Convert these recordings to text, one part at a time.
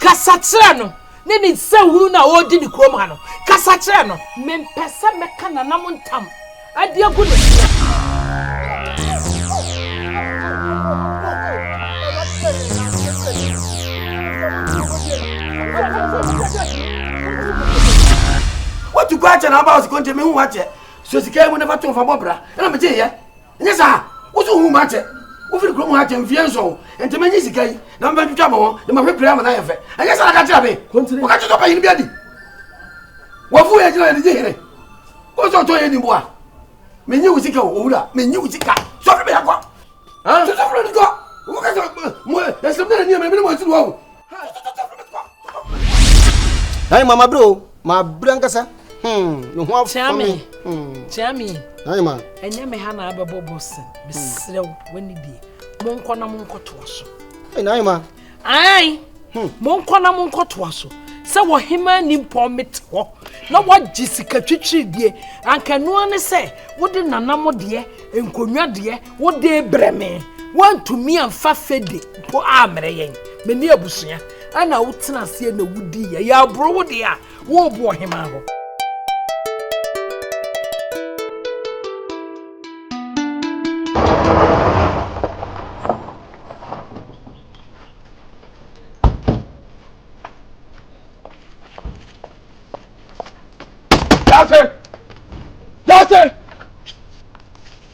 Kasa kyerɛ no ne ne nsɛnhunu no a ɔredi ne kurom ha no. Kasa kyerɛ no. Mempɛ sɛ mɛka n'anam ntam de agu ne so. Woatu kɔ akyɛ na waba hɔ sɛ konte, mehu wo akyɛ. Sɔ sika yi mu na fa to fa bɔ bra. Ɛnna megyeeɛ. nyɛ saa woso hu ma kyɛ wofiri kurom ha kyɛ mfie nson nti menye sika yi na mebɛtwitwa mo ho de mahwɛ pira ama no ayɛ fɛ ɛnyɛ saa na ka kyerɛ me woka kyetɔ panyin bi adi wafu yɛ gyina yɛde gye hene wosɛ ɔtɔ yɛ nimbo a menye wo sika o owura menye wo sika sɔfre bɛyɛ kɔ sɔfre no kɔ woka sɛ ɛsɛm dɛ na nneɛma mene mo asiri wɔ ho Nani mama bro, ma bra nkasa. Hmm, no ho afa me. Chami. Nani ma. Enye me ha na abebo bossen. Me srew wani die. Monko na monko to aso. Hey, nani ma. Ai. Hmm. Monko na monko to aso. sɛ wɔhema ni mpɔn mete hɔ na wɔagye sika twitwiri die anka noa ne sɛ wode nanam deɛ nkonnwa deɛ Wode brɛ me, woantumi amfa fede mpo ammrɛ yɛn. Me ne abusua na wotena aseɛ na wodiiɛ. Yɛaboro wo deɛ a, worebo ɔhemaa hɔ.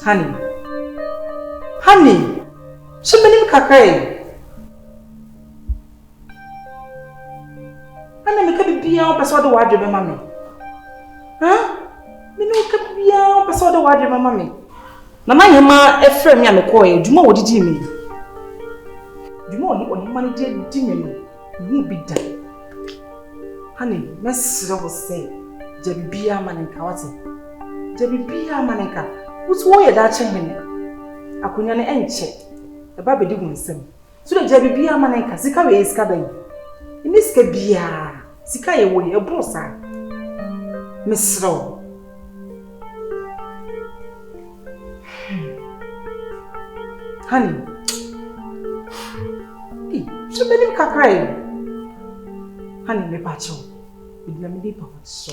Honey. Honey! So menim kakra yi. Ana meka biribiara wopɛ sɛ ɔde w'adwe bɛma me? Ha? Me ne woka biribiara wopɛ sɛ ɔde w'adwe bɛma me? Nana Nyema ɛfrɛ me a mekɔɛ adwuma wɔ didi me. Adwuma ɔne ɔhema no de di me no, mehu bi da. Hane, mɛsrɛ wo sɛ gya biribiara ma ne nka wate. Gya biribiara ma ne nka. Wotu wɔyɛ daakye hene. Akonnwa no ɛnkyɛ. Ɛba bɛdi wo nsam. So na gya biribiara ma ne nka. Sika wei yɛ sika bɛn? Ɛnyɛ sika biara. Sika yɛ wɔ yi, ɛboro saa. Mesrɛ wo. Honey. Hey, hwɛ bɛnim kakra yi. Honey, mepa kyɛw. Medina me di pa so.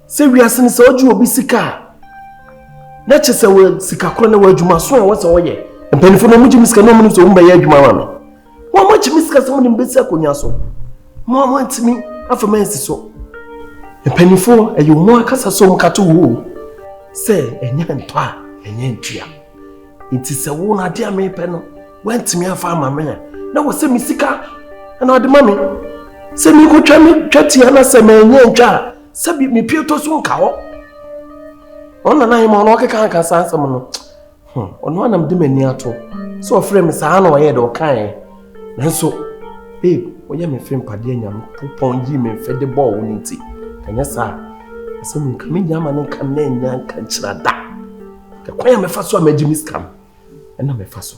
sɛ wiase no sɛ ɔgye obi sika a na kyɛ sɛ wɔ sika korɔ na wɔ adwuma so a wɔsɛ wɔyɛ mpanyinfoɔ na wɔgye me sika na wɔn sɛ wɔn bɛyɛ adwuma ma me wɔn mo akyi me sika sɛ wɔn de me bɛsi akonnwa so mo a wɔntumi afa me ansi so mpanyinfoɔ ɛyɛ wɔn akasa sɛ wɔn kato wo o sɛ ɛnyɛ ntɔ a ɛnyɛ ntua nti sɛ wo na adeɛ a mepɛ no wɔntumi afa ama me a na wɔsɛ me sika ɛna ɔde ma me sɛ mekɔtwa me twa tia na sɛ mɛnyɛ ntwa a sɛbi mepie tɔ so nka hɔ ɔno nana hema ɔno ɔkeka nka saa asɛm no hmm, ɔno anam de m'ani ato sɛ ɔfrɛ me saa na ɔyɛ dɛ ɔkaeɛ nanso babe woyɛ me fe mpadeɛ nyame popɔn yi me mfɛ de bɔɔ wo no nti ɛnyɛ saa asɛm nka menya ama no nka na ɛnya nka nkyira da ɛkwan a mefa so a magye me sika no ɛna mefa so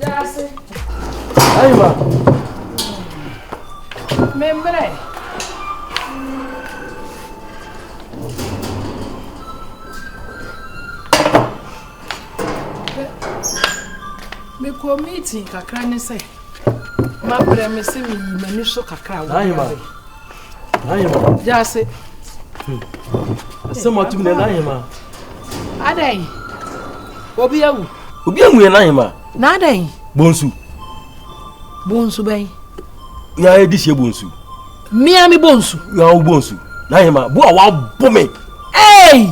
Yɛase. Ayiwa. Memmerɛ. Mekɔ meeting kakra ne sɛ mabrɛ me se meyi m'ani so kakra wɔ Ahema. Jase. Asɛm atum na n'ahema. Adɛn? Obi awu. Obi amu yɛ n'ahema. Na adɛn? Bonsu. Bonsu bɛn? Ya edi sie bonsu. Mmea mi bonsu. Ya wo bonsu. N'ahema bo a wabɔ me. Ee!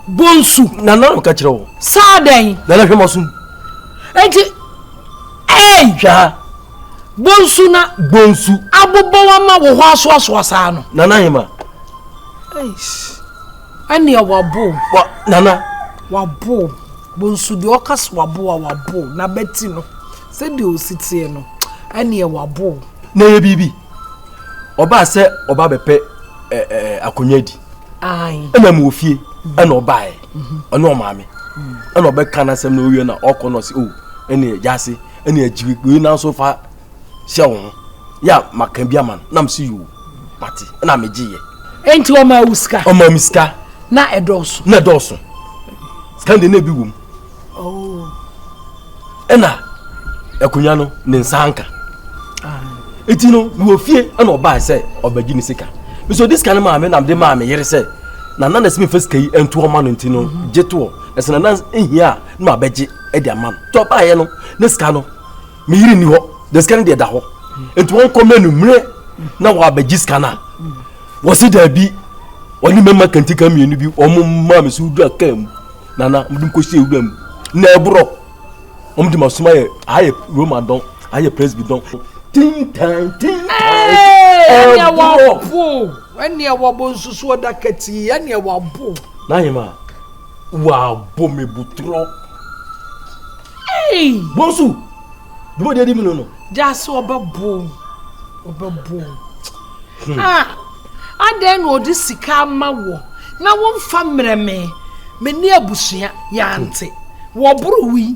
Bonsu. Na na ka kyerɛ wo. Saa dɛn? Na na hwɛ ma sum. Eti. Ee! Hwɛ ha. Bonsu na bonsu. Abobɔ wa ma wo hɔ asoasoa saa no. Nana Hema. Eish. Ɛnea wabo. Wa nana. Wabo. Bonsu deɛ ɔka so wabo a wabo na bɛti no sɛdeɛ osi teɛ no ɛnea wabo. Na ɛyɛ biribi. Ɔbaa sɛ ɔba bɛpɛ ɛɛ akonnwa di. Ayi. Ɛna mu ofie mhm. ɛna ɔbaeɛ mhm. ɔne ɔmaame mhm. ɛna ɔbɛka n'asɛm na owie na ɔkɔ na ɔsi o oh, ɛnea gyaase. ɛne agyiri wei nanso fa hyɛ wo ho yɛ a maka bi ama no nam si yoo mate ɛna megyeeɛ enti ɔma awu sika ɔma me sika na ɛdɔɔso na ɛdɔɔso sika deɛ na ebi wom oh. ɛna akonnwa no ne nsa anka eti no wɔ fie ɛna ɔbaa sɛ ɔbɛgye ne sika nso ɔde sika no maa me nam de maa me yere sɛ na nana simi fa sika yi ntoɔ ma no nti no mhm. gye toɔ ɛsɛ nana ehia a na wabɛgye ɛde ama no tɔ baayɛ no ne sika no me yiri ni hɔ de sika no deɛ da hɔ nti wɔn kɔ mɛnu mmerɛ na wɔabɛgye sika no a wɔsi daabi wɔne mɛma kantika mmienu bi wɔn mmaa mi so wura kaa mu nana wɔn de nkɔ sie wura mu na ɛborɔ wɔn de ma soma yɛ aha yɛ roma dɔn aha yɛ presby dɔn tintan tintan ɛborɔ ɛni ɛwɔ bo nsusu ɔda kɛtì ɛni ɛwɔ bo. n'ahema. Wabɔ me butorɔ. Hey! Bonsu! Duma di adi mi no no. Jaase ɔbɛbo ɔbɛbo. Hmm. Ah! Adɛn na ɔde sika ama wɔ na wɔmfa mmerɛ me me ne abusua yɛante hmm. wɔboro wi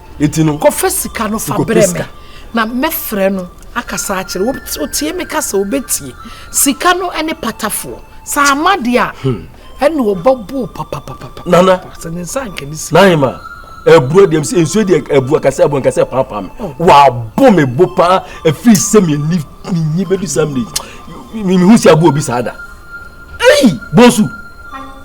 Eti no. Kɔfɛ sika no fa brɛ me na mɛfrɛ no akasa akyerɛ wo otie me kasa obetie sika no ɛne patafoɔ saa ama deɛ a hmm. ɛna ɔbɛboo papapapapa nana sɛ ne nsa nka ne si nahima ɛburo deɛ sɛ nsuo deɛ ɛbu akasɛ ɛbu nkasɛ paapaa me oh. wabo me bo paa ɛfiri sɛ meni menyi bɛdu saa mene mehu si aboɔ bi saa da ei bonsu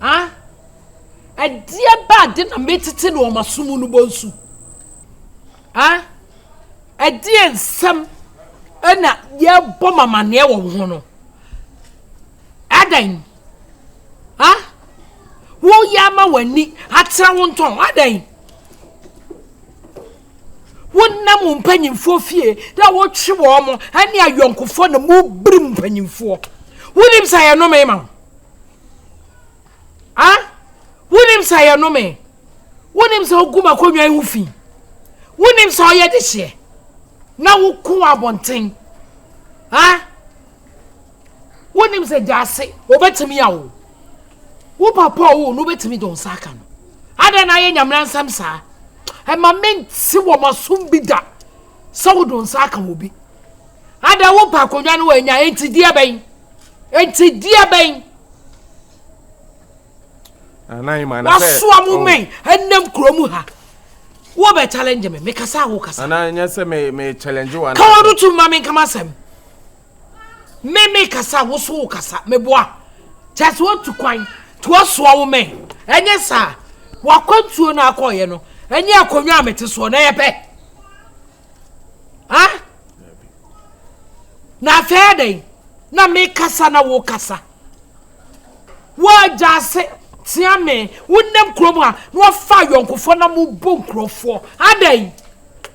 A Ɛdeɛ bɛ ade na metete no wɔ m'aso mu no bonsu? A Ɛdeɛ nsɛm na yɛbɔ m'amaneɛ wɔ wo ho no? Adɛn? A Woyɛ ama w'ani atra wo ntɔn? Adɛn? wonam wo mpanyimfoɔ fie na wotwe wɔn mo ɛne ayɔnkofoɔ na mobiri mu mpanyimfoɔ wonim sɛ yɛnome ma wo A Wonnim sɛ ɛyɛ nnome? Wonnim sɛ wogu m'akonnwa yi ho fi? Wonnim sɛ ɔyɛ dehyeɛ na woko wɔ abɔnten? A Wonnim sɛ gyaase wɔbɛtumi awo? Wo papa ɔwo no wobɛtumi de wo nsa aka no? Adɛn na ayɛ nyamena nsɛm saa? Ɛma mente wɔ m'asom bi da sɛ wode wo nsa aka obi. Ada wopɛ akonnwa no wanya enti deɛ bɛn enti deɛ bɛn wasoa mo oh. mɛn ɛnam kurom ha wo bɛ challenge me me kasa wo kasa ana nyɛ sɛ me me challenge wa ka wɔn tu ma me nkama sɛm me me kasa wo so wo kasa me boa kyɛ sɛ wotu kwan to asoa wo mɛn ɛnyɛ saa wakwantuo no akɔɔyɛ no ɛnyɛ akonnwa a mete soɔ na yɛpɛ ah na afei adɛn na mekasa na wokasa woagya ase tea me wonam kurom a na wafa ayɔnkofoɔ na mobɔ nkurɔfoɔ adɛn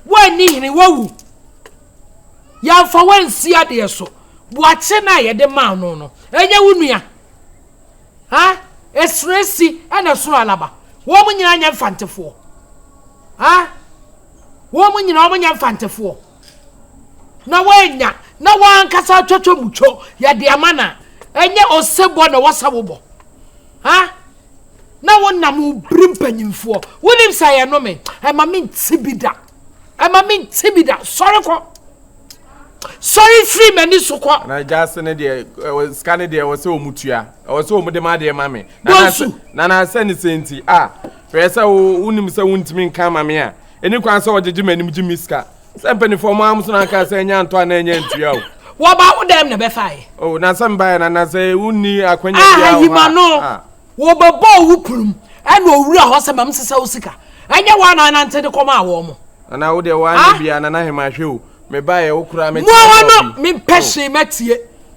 woanni hene woawu yɛmfa woansi adeɛ so boakye no a yɛde maa no no ɛnyɛ wo nua ha ɛsoro si ɛna soro alaba wɔn nyinaa nyɛ mfantefoɔ ha Wɔn nyinaa wɔnyɛ mfantefoɔ, na wɔannya, na wɔn ankasa atwatwa mu twɔ, yɛde ama no a, ɛnyɛ ɔsebɔ na wɔsa wo bɔ. Ha? Na wonam wo bere mpanyimfoɔ. Wonim sɛ yɛno me, ɛma me nte bi da. Ɛma me nte bi da. Sɔre kɔ. Sɔre firi m'ani so kɔ. Na gyaase ne deɛ, sika ne deɛ, ɛwɔ sɛ wɔn tua. Ɛwɔ sɛ wɔn de ma adeɛ ma me. Bonsu. Nana sɛ ne sɛ nti, a, Sɛ ɛyɛ sɛ wo wo nim sɛ wo ntumi nka ama me a, ɛni kwan sɛ ɔgyegye m'anim gye me sika. Sɛ mpanyinfoɔ ɔmo amuso na anka sɛ ɛnyɛ antɔ anaa ɛnyɛ ntua o. Wɔba wo dɛm na ɛbɛfaeɛ. Oh, na sɛ mbaeɛ na na sɛ wo nni akwanya biara wɔ hɔ a. Ayima no, wɔbɛbɔɔ wo kurom ɛna owura hɔ sɛ ma me sesa wo sika. Ɛnyɛ wo a na anante de kɔmaa wɔn mo. Na na wo deɛ wo anyɛ biara na na hema hwɛ o. Me baeɛ wo koraa me kyerɛ sɛ ɔbi. Mo ano, me mpɛ hwee mɛtie,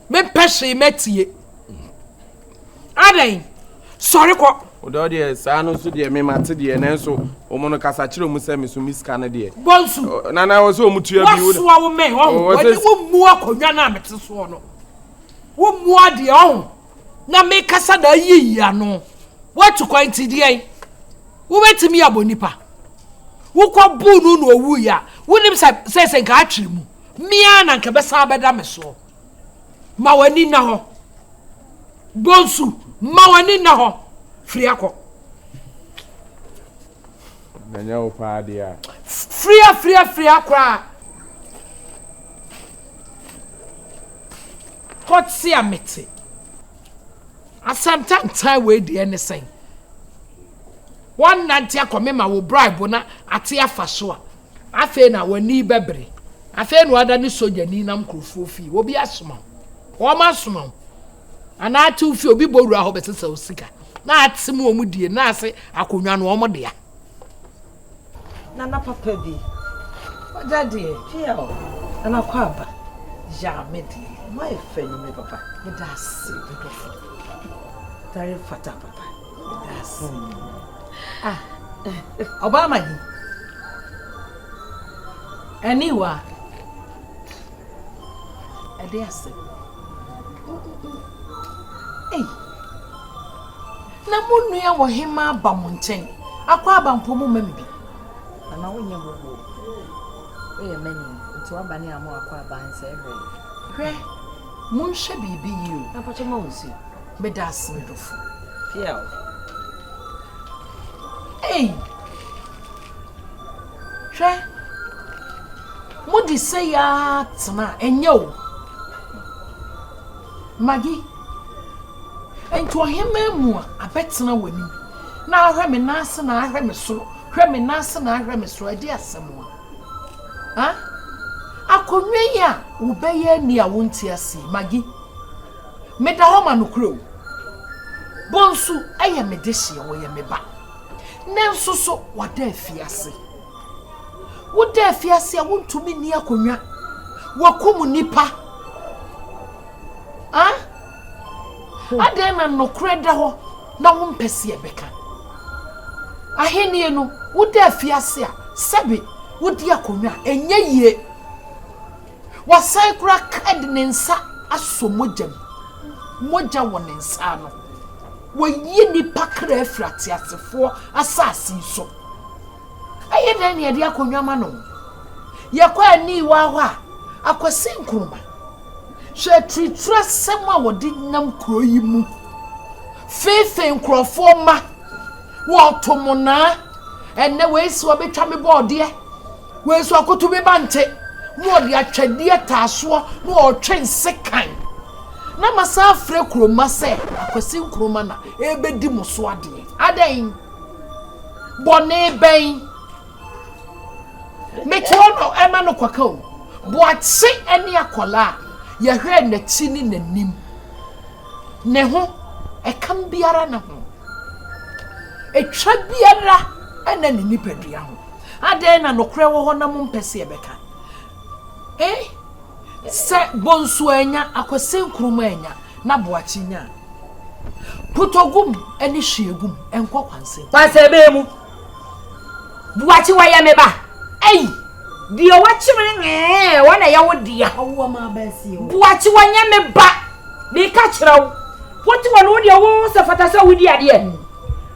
me mpɛ hwee mɛtie. Adɛn? Sɔre kɔ. Wodɔ deɛ saa no nso deɛ mema te deɛ nanso wɔn no kasa kyerɛ wɔn sɛ meso mi sika no deɛ. Bɔnsu. Nana wɔ sɛ wɔn tua bi. Wɔsoa wo mɛn ɔho. Wɔde wɔn mu akonnwa no a mete soɔ no. Wɔn mu adeɛ ɔho. Na mekasa na ayiyi ano. Wɔatu kwan nti deɛn? Wobɛtumi abɔ nipa. Wokɔ buu no na ɔwuiɛ a wonim sɛ sɛ sɛ nka atwere mu. Mea na nka bɛsan bɛda me soɔ. Ma w'ani nna hɔ. Bonsu, ma w'ani nna hɔ. Firi akɔ. Na nyɛ wo paa deɛ a. Firi a, firi a, firi akɔ a. Kɔte a mete. Asɛm tantan wei deɛ ne sɛn? Wɔnnante akɔ me ma wo bribe na ate afa so a. Afei na w'ani bɛbere. Afei na w'ada ne sogyani nam nkurɔfoɔ fie. Obi asoma wo, wɔn asoma wo, anaa ate wo fie, obi bɔ wura hɔ bɛsesa wo sika, na ate mu wɔn die, na ase akonnwa no wɔn dea. Nana papa bi, wagya deɛ, pia o, Nana kɔ aba, ya me deɛ, mo ayɛ fɛ no me papa, meda ase, me dɔfo, very fata papa. Ọbaa Maggie, aniwa, ɛde ase. Ei, na mo nua wɔ he ma aba mo nkyɛn? Akɔ aba mpo mo ma me bi. Nana wonyɛ mo bo. Woyɛ mani, nti waba ne a mo akɔ aba nsɛ hwɛ. Hwɛ, monhwɛ biribi yie o. Na mpakyɛ ma wo nsuo. Meda ase me dɔfo. Piaw. Ei! Hwɛ. Mode sɛ yaa tena ɛnyɛ o. Magi. Nti ɔhemmaa mu a abɛtena w'anim na ahwɛ me nan ase na ahwɛ me soro hwɛ me nan ase na ahwɛ me soro ɛde asɛm a. Ha? Akonnwa yi a wobɛyɛ ani a wonte aseɛ Magi. Meda hɔ ma nokorɛ o. Bonsu yɛ me dehyeɛ, ɔyɛ me ba. Nnɛ nso so, wada afiase. Woda afiase a, wontumi nni akonnwa. Wɔakum nnipa. Ah? Adɛn na nokorɛ da hɔ na wompɛ sɛ yɛbɛka? Ahennie no, woda afiase a, sɛbe wodi akonnwa a, ɛnyɛ yie. Wasan koraa ka de ne nsa asɔ mogya mu. Mogya wɔ ne nsa ano. Wayi nnipa kra afiri ateasefoɔ asase yi so. Ɛyɛ dɛn na yɛde akɔ nnwama no? Yɛkɔ aniwa hɔ a, Akwasi Nkrumah, hwɛ aturituri asɛm a wɔde nam kuro yi mu, feefee nkurɔfoɔ mma, wɔto mo naa, ɛnnɛ wei se wabɛtwa me bɔɔdeɛ. Wei nso akoto bi ba nte na ɔde atwadeɛ taa soɔ na ɔretwe nsekan na masan afrɛ kuro mma sɛ Akwasi Nkrumah na ɛrebɛdi mo so adeɛ. Adɛn? Bɔne bɛn? Metoɔ no ɛma no kɔka o. Boakye ne akwadaa a yɛhwɛɛ n'akyi ne n'anim. Ne ho, ɛkam biara ne ho. Ɛtwa biara ɛnna ne nipadua ho. Adɛn na nokorɛ wɔ hɔ na mompɛ sɛ yɛbɛka? E Sɛ Bonsu annya, Akwasi Nkrumah annya, na Boakye nya a, Putogum ne Hwiegum nkɔ kwansɛm. Kwansɛbɛn mu. Boakye wɔyɛ me ba. Ei! Deɛ wɔakyem no ee, wɔn na ɛyɛ wo dea. Boakye wɔnyɛ me ba. Meka kyerɛ wo, wote hɔ no, wo deɛ wosɛ fata sɛ wodi adeɛ.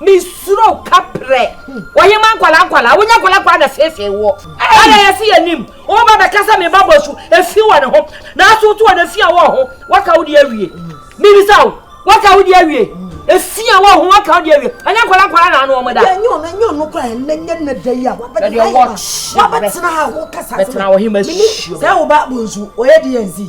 mesuro kaprɛ wɔyɛ ma nkwadaa nkwadaa wonya nkwadaa nkwadaa na siesie woɔ ɛna yɛsi yɛ nim wɔn ba bɛka sɛ meba bɔ su efi wɔ ne ho na aso to wɔ ne fi a wɔ ho waka wo de awie mibisa wo waka wo de awie efi a wɔ ho waka wo de awie ɛnyɛ nkwadaa nkwadaa na ano wɔn da. ɛnyɛ ɔno ɛnyɛ ɔno kora ɛnɛ nyɛ ne da yi a wabɛtena ha wabɛtena ha wɔ kasa sɛ mini sɛ wo ba bɔ nsu ɔyɛ di yɛn zi.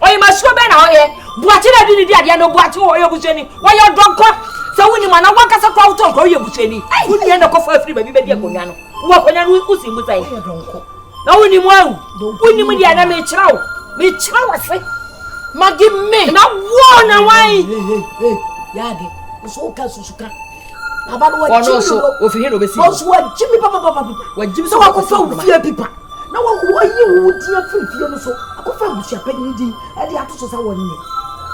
Ɔyɛmasuo bɛn na ɔyɛ? Boakye na ɛde ne di adeɛ no Boakye wɔ ɔyɛ busuani wɔyɛ ɔdɔ nkwa sɛ wo nim ana wankasa kora wotɔ nkwa woyɛ busuani wo nua na kɔfa afiri baabi bɛdi akonnwa no wɔ akonnwa no wosi mu sɛn na wo nim awu wo nim deɛ na mekyerɛ wo mekyerɛ wo se magi me na wo na wan yɛ ade nso woka susuka Baba no wɔgye me dodo. Ofi he na obesi. Wɔn nso wɔgye me papapapapipa. Wɔgye me sɛ wɔakɔfa wo fie pipa. Na wɔyi wo din afiri fie no so akɔfa abusuapanyin din de ato so sɛ wɔnyɛ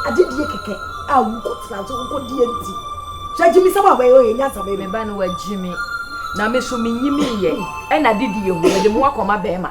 adedie kɛkɛ a wokɔtena so wokɔdie nti. Sɛ gye me sɛ wɔabɛyɛ ɔyɛ nyansa bɛyɛ. Meba no wɔagye me na me so menyimiiɛ ɛna adedie ho mede mo akɔma bɛrima.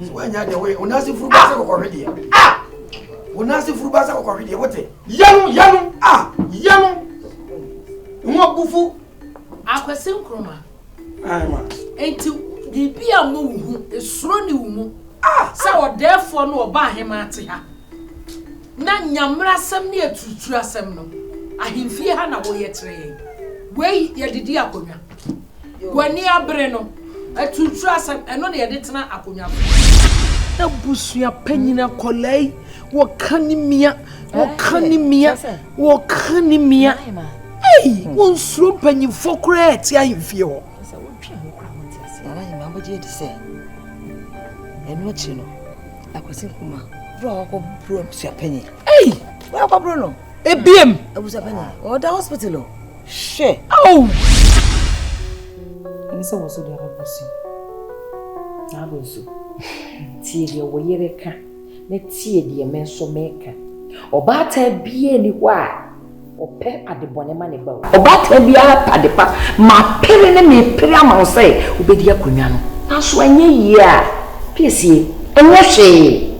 nso wanya deɛ woyɛ wonase furu ba sɛ kɔkɔhwe deɛ wonase furu ba sɛ kɔkɔhwe deɛ wote yɛno yɛno a yɛno ho abufu akwasi nkroma nti biribi a mo wo ho esuro ne wo mu sɛ ɔdɛɛfoɔ no ɔba ahema ate ha na nyamera asɛm ne aturutura asɛm no ahemfie ha na woyɛ kyerɛ yɛn wei yɛde di akonnwa Wɔn ani abere no, aturutura asɛm, ɛno na yɛde tena akonnwa so. Abusua panyin akwadaa yi, wɔka ne mia, wɔka ne mia, wɔka ne mia. Ei, wɔnsuro mpanyinfoɔ koraa a ɛte ahemfie hɔ. ɛno akyi no akwasi nkuma bro a wakɔ bro abusua panyin. Ei! Wakɔ bro no. Ebiem. Abusua panyin. Ɔda hospital o. Hwɛ! Ao! Ɛne sɛ wɔ so de abɛbɔ so. Saa bɔ nso. Tie deɛ wɔ yere ka na tie deɛ me nso meka. Ɔbaatan biara ni hɔ a ɔpɛ adebɔne ma ne ba o. Ɔbaatan biara pɛ adepa. Mapere ne mepere ama wo sɛ wobɛdi akonnwa no. Nanso anyɛ yie a, piesie, ɛnyɛ hwee.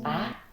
Ah,